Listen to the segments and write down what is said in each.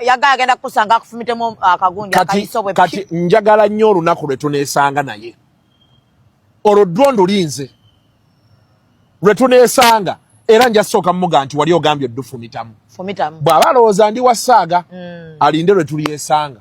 yagala agenda kukusanga akufumitemu uh, akagundi akayiso bwe kati njagala nnyo olunaku lwe tuneesanga naye olwo ddwo ndulinze lwe tuneesanga era nja sooka muga nti wali ogambye oddufumitamu bw'aba alowooza ndi wasaaga mm. alinde lwe tulyesanga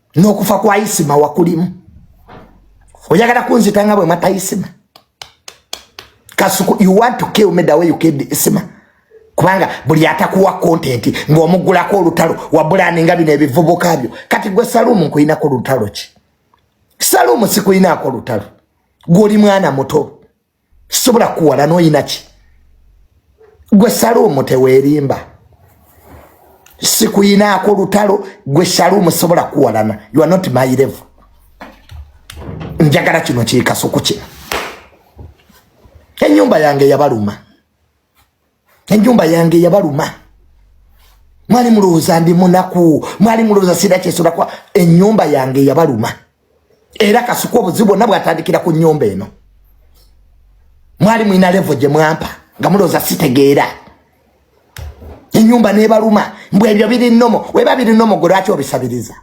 n'okufa kwa isima wakulimu oyagala kunzita nga bwe mata isima kasuku you want to kill me the way you killed isima kubanga buli atakuwa kontenti ng'omuggulako olutalo wabulani nga bino ebivubuka byo kati gwe salumu nkulinako lutalo ki salumu sikulinaako lutalo gwoli mwana muto sobola kuwala noyinaki gwe salumu tewerimba sikuyinaako lutalo gwe salumu sobola kuwalana you are not my level njagala kino kyekasuku kino enyumba yange yabaluma enjumba yange yabaluma mwali mulowooza ndi munaku mwali mulowooza sira kyesolakwa enyumba yange yabaluma era kasuka obuzibu bwonna bwatandikira ku nyumba eno mwali mwina levo gye mwampa nga mulowooza sitegeera enyumba nebaluma mbu ebyo biri nomo weba biri nomo gwe lwaki obisabiriza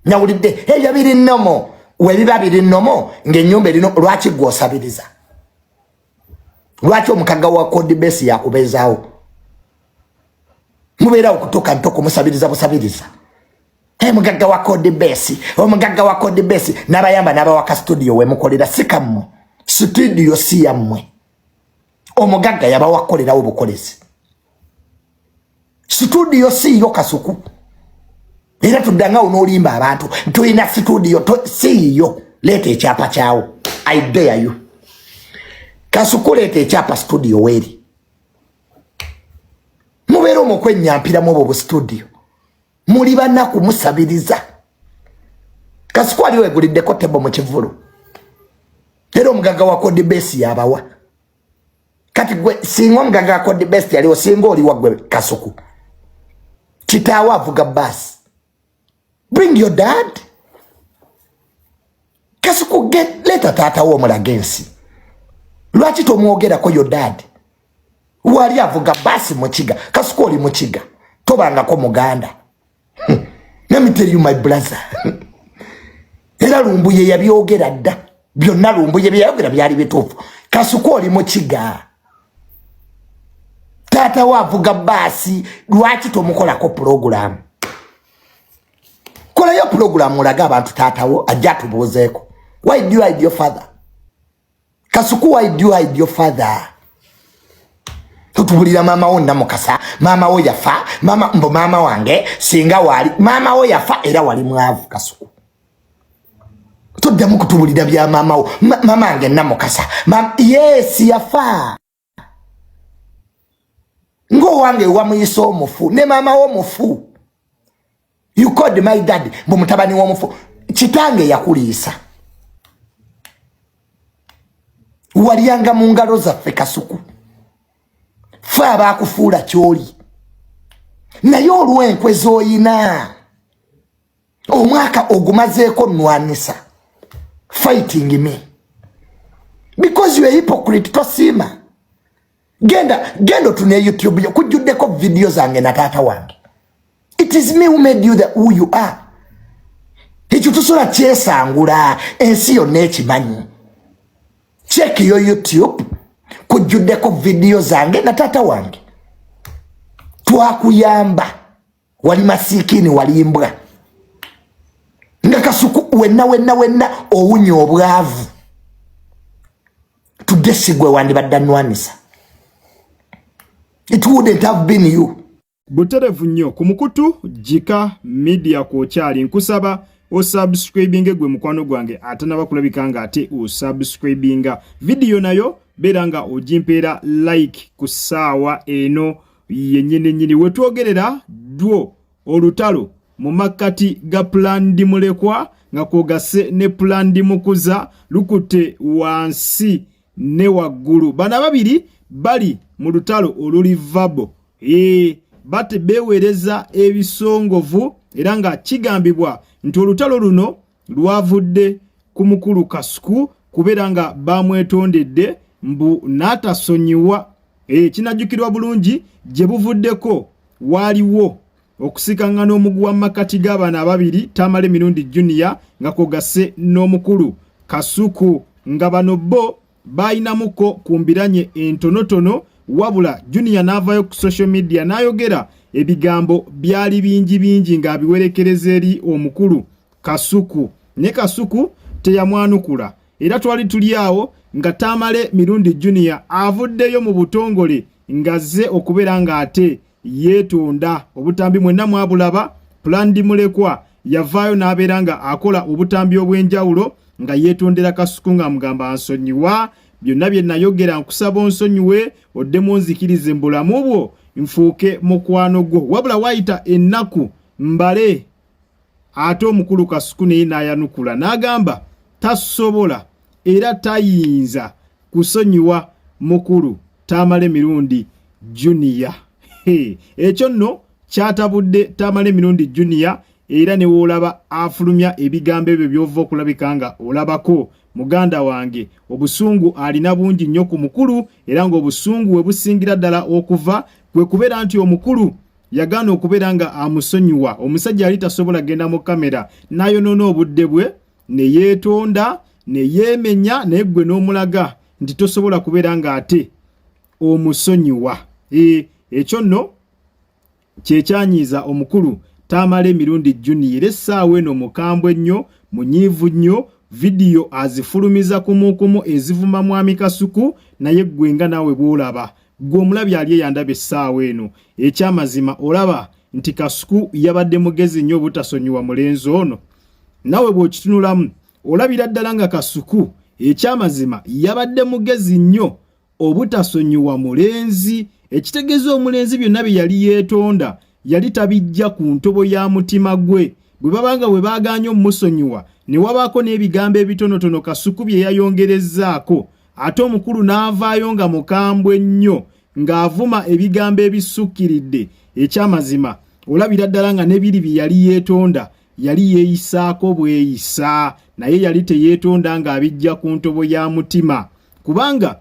nawulidde ebyo biri nomo webiba biri nomo ngaenyumba erino lwaki gwe osabiriza lwaki omukagga wa code base yakubeezaawo mubeerawo kutuuka ntoko musabiriza busabiriza hey, mugagga wa code base omugagga wa code base nabayamba nabawaka studio wemukolera sikammwe studio si yammwe omugagga yabawakukolerawo bukolezi situdiyo siiyo kasuku era tuddangawo n'olimba abantu tulina situdiyo siiyo leeta ekyapa kyawo i dare you kasuku leeta ekyapa situdiyo weeri mubeera omu okwenyampiramu obwo bu situdiyo muli banaku musabiriza kasuku ali weguliddeko tebo mu kivulu era omugaga wa kodibesi yabawa kati gwe singa omugaga akode best yaliwo singa oliwa gwe kasuku kitaawo avuga basi bring your dad kasuku get leta taatawo omulaga ensi lwaki tomwogerako your dad wali avuga basi mukiga kasuku oli mukiga tobangako muganda namiteriyo my brother era lumbuye yabyogera dda byonna lumbuye byeyayogera byali bituufu kasuku oli mukiga taata we avuga baasi lwaki tomukolako pulogulaamu kolayo pulogulaamu olage abantu taatawo ajja atubuuzeeko why do you hide your father Kasuku why do you hide your father? Tutubulira mama wo namukasa, mama wo yafa, mama mbo mama wange singa wali, mama wo yafa era wali mwavu Kasuku. Tuddamu kutubulira bya mama wo, mama wange namukasa. Mama yes yafa. ng'owange wamuyisa omufu ne maama wo mufu you called my dad mbu mutabani w'omufu kitange yakuliisa walyanga mu ngalo zaffe kasuku fe abaakufuula kyoli naye olw'enkwe z'oyina omwaka ogumazeeko nwanisa fighting me because you a hypocrite tosiima genda genda otune youtube yo kujjuddeko vidiyo zange na taata wange it is me who made you the who you are ekyo tusobola kyesangula ensi yonna ekimanyi check yo youtube kujjuddeko vidiyo zange na taata wange twakuyamba wali masikiini wali mbwa nga kasuku wenna wenna wenna owunya obwavu tugesigwe wandibadde anwanisa it wouldn't have been you buterevu nnyo ku mukutu jika media kwokyali nkusaba osubscribinge gwe mukwano gwange ate naba kulabika nga ate osubscribinga vidiyo nayo beera nga ojimpeera like ku ssaawa eno ye nyini nyini wetwogerera dwo olutalo mu makkati ga pulandi mulekwa nga kwogase ne pulandi mukuza lukutte wansi ne waggulu bano ababiri bali mu lutalo oluli vabo ee bate beewereza ebisongovu era nga kigambibwa nti olutalo luno lwavudde ku mukulu kasuku kubeera nga baamwetondedde mbu n'atasonyiwa eh, kinajjukirwa bulungi gye buvuddeko waaliwo okusikangana omuguwa mu makkati g'abaana ababiri tamale mirundi junior nga kwogase n'omukulu kasuku nga bano bo baalinamuko ku mbiranye entonotono wabula junior n'avaayo ku social media n'ayogera ebigambo byali bingi bingi ng'abiwerekereza eri omukulu kasuku ne kasuku teyamwanukula era twali tuli awo nga tamale mirundi junior avuddeyo mu butongole ng'azze okubeera ng'ate yeetonda obutambi mwenna mwabulaba pulandi mulekwa yavaayo n'abeera nga akola obutambi obw'enjawulo nga yeetondera kasuku ng'amugamba ansonyiwa byonna bye nayogera nkusaba onsonyiwe oddemu onzikirize mu bulamu bwo nfuuke mukwano gwo wabula waayita ennaku mbale ate omukulu kasuku naye n'ayanukula n'agamba tasobola era tayinza kusonyiwa mukulu tamale mirundi junior ekyo nno kyatabudde tamale mirundi junior era ne woolaba afulumya ebigambo ebyo by'ova okulabika nga olabako muganda wange obusungu alina bungi nnyo ku mukulu era ng'obusungu we busingira ddala okuva kwe kubeera nti omukulu yagaana okubeera nga amusonyiwa omusajja yali tasobola genda mu kamera n'ayonoona obudde bwe ne yeetonda ne yeemenya naye ggwe n'omulaga nti tosobola kubeera ng'ate omusonyiwa e, ekyo nno kyekyanyiiza omukulu taamala emirundi juniya era essaawa eno mukambwe nnyo munyiivu nnyo vidiyo azifulumiza kumukumu ezivuma mwami kasuku naye ggwe nga naawe bw'olaba Gwe omulabi ali eyandaba essaawa eno, ekyamazima olaba nti Kasuku yabadde mugezi nnyo obutasonyiwa mulenzi ono? Nawe bw'okitunulamu olabira ddala nga Kasuku ekyamazima yabadde mugezi nnyo obutasonyiwa mulenzi ekitegeeza omulenzi byonna bye yali yeetonda yali tabijja ku ntobo ya mutima gwe bwe babanga bwe baaganye omusonyiwa ne wabaako n'ebigambo ebitonotono kasuku bye yayongerezzaako ate omukulu n'avaayo nga mukambwe nnyo ng'avuma ebigambo ebissukkiridde eky'amazima olabira ddala nga nebiri bye yali yeetonda yali yeeyisaako bweyisa naye yali teyeetonda ng'abijja ku ntobo ya mutima kubanga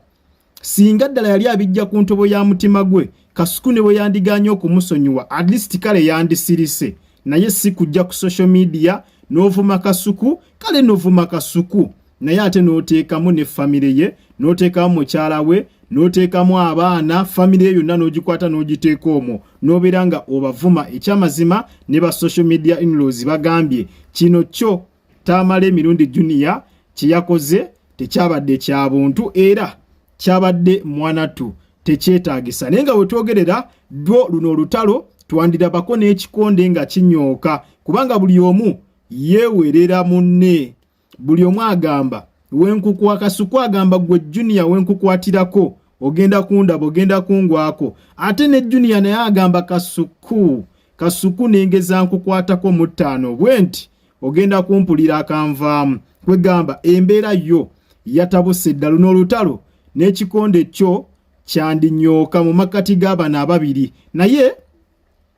singa ddala yali abijja ku ntobo ya mutima gwe kasuku ne bwe yandiganye okumusonyiwa at least kale yandisirise naye si kujja ku social media n'ovuma kasuku kale novuma kasuku naye ate n'oteekamu ne famire ye n'oteekamu mukyala we n'oteekamu abaana famire ye yonna n'ogikwata n'ogiteeka omwo n'obeera nga obavuma ekyamazima ne ba social media inlaws bagambye kino kyo taamala emirundi juniya kye yakoze tekyabadde kya buntu era kyabadde mwanatu tekyetaagisa naye nga wetwogerera dwo luno olutalo twandirabako n'ekikonde nga kinyooka kubanga buli omu yeewerera munne buli omu agamba wenkukuwa kasuku agamba gwe juniya wenkukwatirako ogenda kundaba ogenda kungwako ate ne juniya naye agamba kasuku kasuku nengeza nkukwatako mu ttaano bwe nti ogenda kumpulira akanvaamu kwegamba embeera yo yatabuse eddalu n'olutalo n'ekikonde kyo kyandinyooka mu makkati g'abana ababiri naye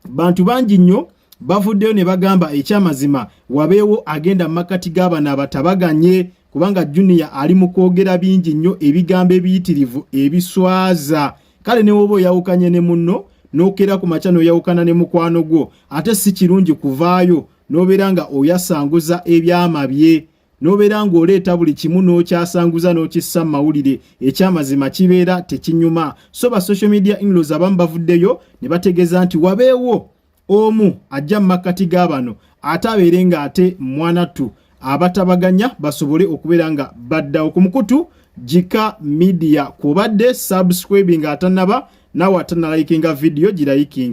bantu bangi nnyo bavuddeyo ne bagamba ekyamazima wabeewo agenda mu makkati g'abana abatabaganye kubanga junior ali mu kwogera bingi nnyo ebigambo ebiyitirivu ebiswaza kale newooba oyawukanye ne munno n'okeera ku makya n'oyawukana ne mukwano gwo ate si kirungi kuvaayo n'obeera nga oyasanguza ebyama bye n'obeera ng'oleeta buli kimu n'okyasanguza n'okissa mu mawulire ekyamazima kibeera tekinyuma so ba social media inlos abamu bavuddeyo ne bategeeza nti wabeewo omu ajja mu makkati ga bano ate abeere ng'ate mwanattu abatabaganya basobole okubeera nga baddawo ku mukutu jika media kwobadde subscribing atanaba nawe atanalayikinga vidiyo girayikinge